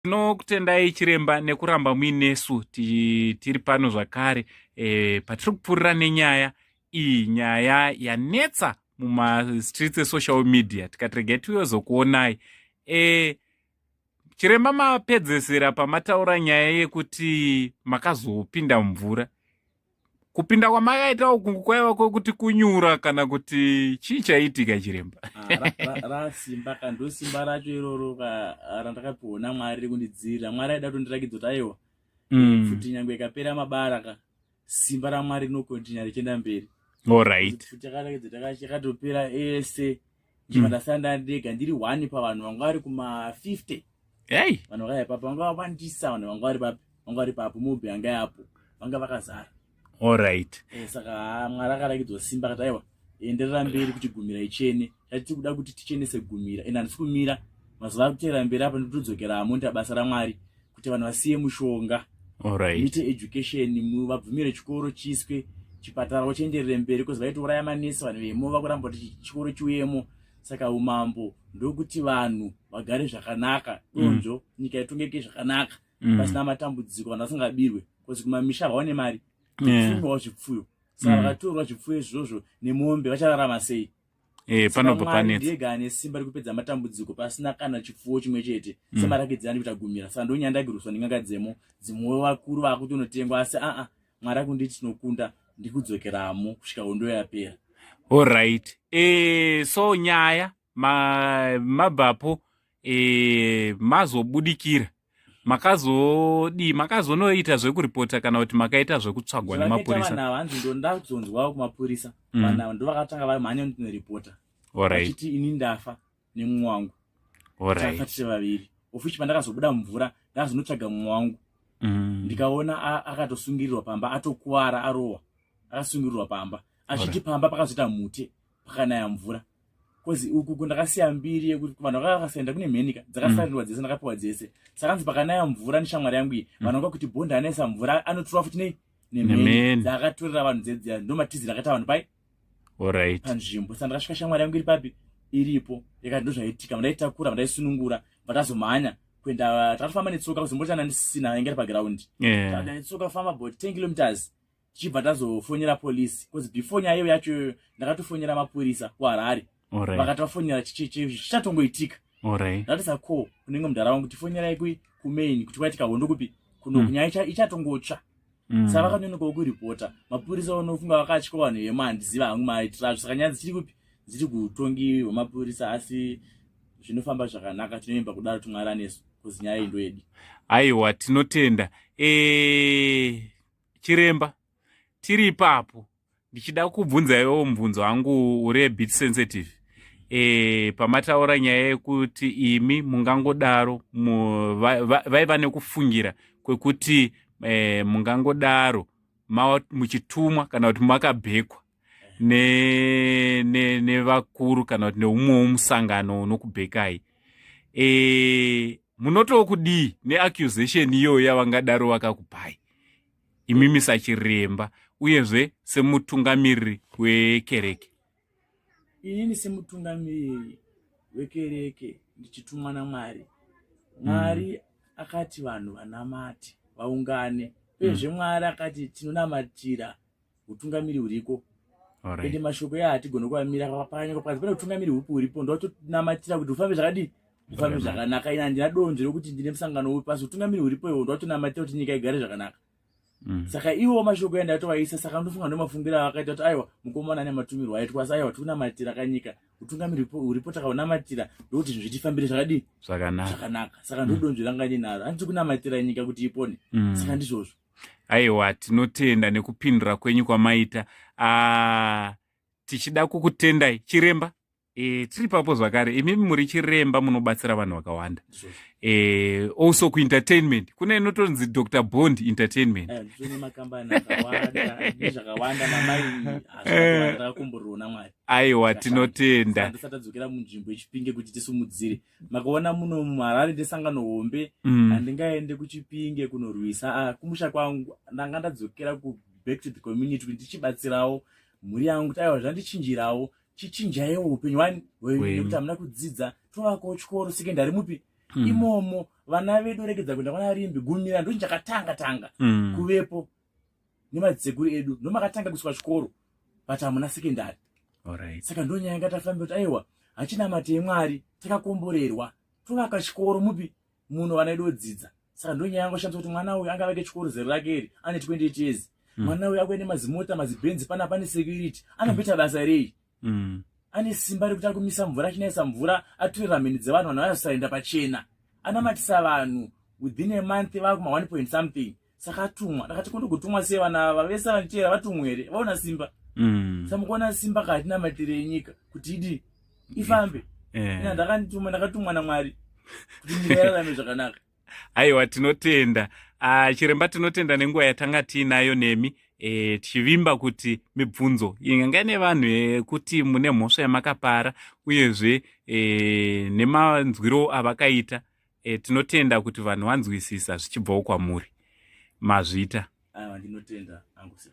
tinokutendai chiremba nekuramba muinesu tiri pano zvakare e, patiri kupfuurira nenyaya iyi nyaya yanetsa mumastreets esocial media tikati regai tiyozokuonai e, chiremba mapedzesera pamataura nyaya yekuti makazopinda mumvura kupinda kwamakaita uku kwaiva kwekuti kunyura kana kuti chii chaiitika chiremba ah, rasimba ka ndosimba racho iroro randakapiwa namwari rekundidzirira mwari aida kutondirakidza kuti aiwa mm. futi nyangwe ikapera mabara ka simba ramwari rinokontinya richienda mberi orit futi akarakidza takatopera ese ndikandasanda mm. ndega ndiri one pavanhu vanga vari kuma 50 hey. vanhu vakaya papo vanga vawandisa vanhu vanga vari papi vanga vari papo mobi anga yapo vanga vakazara allright e, eh, saka ah, mwari akarakidzwa simba kati aiwa enderera mberi kuti gumira ichene chatiti kuda kuti tichenese gumira ende handisi kumira mazuva akuteera mberi apa nditodzokera amoni ta basa ramwari kuti vanhu vasiye mushonga right. mite education vabvumire chikoro chiswe chipatara vochienderere mberi bcause vaitouraya manesi vanhu vemo vakuramba kuti chikoro chiuyemo saka umambo ndokuti vanhu vagare zvakanaka mm. donzvo mm. nyika itongeke zvakanaka mm. pasina matambudziko vanhu vasingabirwe bcause kumamisha vaone mari yeah. zvipfuyo saka mm. vakatorwa zvipfuyo izvozvo nemombe vachararama sei Eh, panobva panetsa ndiye gane simba rekupedza matambudziko pasina kana chipfuwo chimwe chete mm. semarakidzi ani kuita gumira saka ndonyandagiruswa nenganga dzemo dzimwe vakuru vakutonotengwa asi aa mwari akunditi tinokunda ndikudzokeramo kusvika hondo yapera allright e, eh, so nyaya mabvapo ma e, eh, mazobudikira makazodii makazonoita zvekuripota kana kuti makaita zvekutsvagwa nemapurisa hanzi ndo ndazonzwawo kumapurisa mm. vana ndo vakatanga vari mhanya ndinoripota achiti ini ndafa nemumwe wangu tafa tiri vaviri ofichi pandakazobuda mumvura ndakazonotsvaga mumwe wangu mm. ndikaona akatosungirirwa pamba atokuvara arowa akasungirirwa pamba achiti pamba pakazoita mute pakanaya mvura bcause uku kundakasiya mbiri yekuti vanhu vakanga vakasaenda kune mhenika dzakasarirwa mm. dzese ndakapiwa dzese sakanzi pakanaya mvura neshamwari yangu iyi mm. vanhu vanga kuti bhondi anaisa mvura anotura futi nei nemheni dzaakatorera vanhu dzedziya ndomatizira akaita vanhu pai orit panzvimbo sa ndakasvika shamwari yangu iri papi iripo yakati ndozvaitika mandaitakura mandaisunungura vatazomhanya kuenda takatofamba netsoka kuzombotana ndisina yainge ri pagraundi yeah. tsoka famba bo ten kilometers tichibva tazofonera police bcause before nyaya iyo yacho ndakatofonera mapurisa kuharare vakati vafonera chichatongoitika ndatisa ko kunenge mudhara wangu tifonerai kui kumain kuti kwaitika hondo kupi kuno mm. nyaya ichatongotsva mm. sa vakanonokawo kuripota mapurisa vanofunga vakatya vanhu vema handiziva hangu maitira azvo saka nyaya dzichiri kupi dziri kutongi hwemapurisa asi zvinofamba zvakanaka tinoimba kudaro tumwari anesu kuzinyaya iyi ndoyedi aiwa tinotenda e chiremba tiri ipapo ndichida kubvunzaiwo mubvunzo wangu uri abit sensitive e, pamataura nyaya yekuti imi mungangodaro vaiva nekufungira kwekuti e, mungangodaro muchitumwa kana kuti makabhekwa nevakuru ne, ne kana kuti neumwewo musangano unokubhekai e, munotowo kudii neaccusation iyoyo yavangadaro vakakupai imi misachiremba uyezve semutungamiriri wekereke inini semutungamiriri wekereke ndichitumwa namwari mwari mm. akati vanhu vanamati vaungane uyezve mm. mwari akati tinonamatira utungamiri huriko ende mashoko ya hatigone kuvamira pakanyange pakazi pane utungamiri hupi huripo ndotonamatira kuti ufambe zvakadii ufambe zvakanaka ina handina donzvo rekuti ndine musangano upi pasi utungamiri huripo iwo ndotonamatira kuti nyika igare zvakanaka mm. saka iwo mashoko yandatovaisa saka ndofunga ndomafungiro avakaita kuti aiwa mukomana ane matumirwo aitwa asi aiwa tikunamatira kanyika utungamiri huripo takaunamatira ndokuti zvinhu zvitifambire zvakadii zvakanaka saka ndodonzvo mm. ranga ndinaro handiti kunamatira nyika kuti ipone mm. saka ndizvozvo aiwa tinotenda nekupindura kwenyu kwamaita ah, tichida kukutendai chiremba e, tiri papo zvakare imimi muri chiremba munobatsira vanhu vakawanda e, also kuentertainment kune inotonzi dr bond entertainment eh, aiwa tinotenda makuona muno muharare ndesangano hombe mm. handingaende kuchipinge kunorwisa ah, kumusha kwangu ndanga ndadzokera ku back to the community kuti ndichibatsirawo mhuri yangu kuti aiwa zvandichinjirawo chichinjaiwo upenyu wani wekuti hamuna kudzidza tovakawo chikoro sekendari mupi mm. imomo vana vedu regedza kuenda kwana rimbi gumira ndochinjakatanga tanga mm. kuvepo nemadzeguru edu ndomakatanga kuiswa chikoro but hamuna sekendari right. saka ndonyaya yanga tafambi kuti aiwa hachina mate yemwari takakomborerwa tovaka chikoro mupi muno vana edu odzidza saka ndonyaya yangu shandisa kuti mwana uyu angavake chikoro zero rake iri ane 28 years hmm. mwana uyu akuende mazimota mazibhenzi pana pane security anobeta basa rei mm. ane simba rekuti ari kumisa mvura achinaisa mvura atore ramheni dzevanhu vanhu vanasaenda pachena anamatisa vanhu within a month vakuma one point something saka atumwa ndakati kundi kutumwa sei vana ava vese vanichera vatumwa here vaona simba mm. samukuona simba kaatinamatire yenyika kuti idi ifambe yeah. ndakandituma ndakatumwa namwari kuti nyika yararame zvakanaka aiwa tinotenda ah, chiremba tinotenda nenguva yatanga tiinayo nemi e, tichivimba kuti mibvunzo inganga nevanhu yekuti eh, mune mhosva yamakapara uyezve e, nemanzwiro avakaita e, tinotenda kuti vanhu vanzwisisa zvichibvawo kwamuri mazvita aiwa ndinotenda angu sir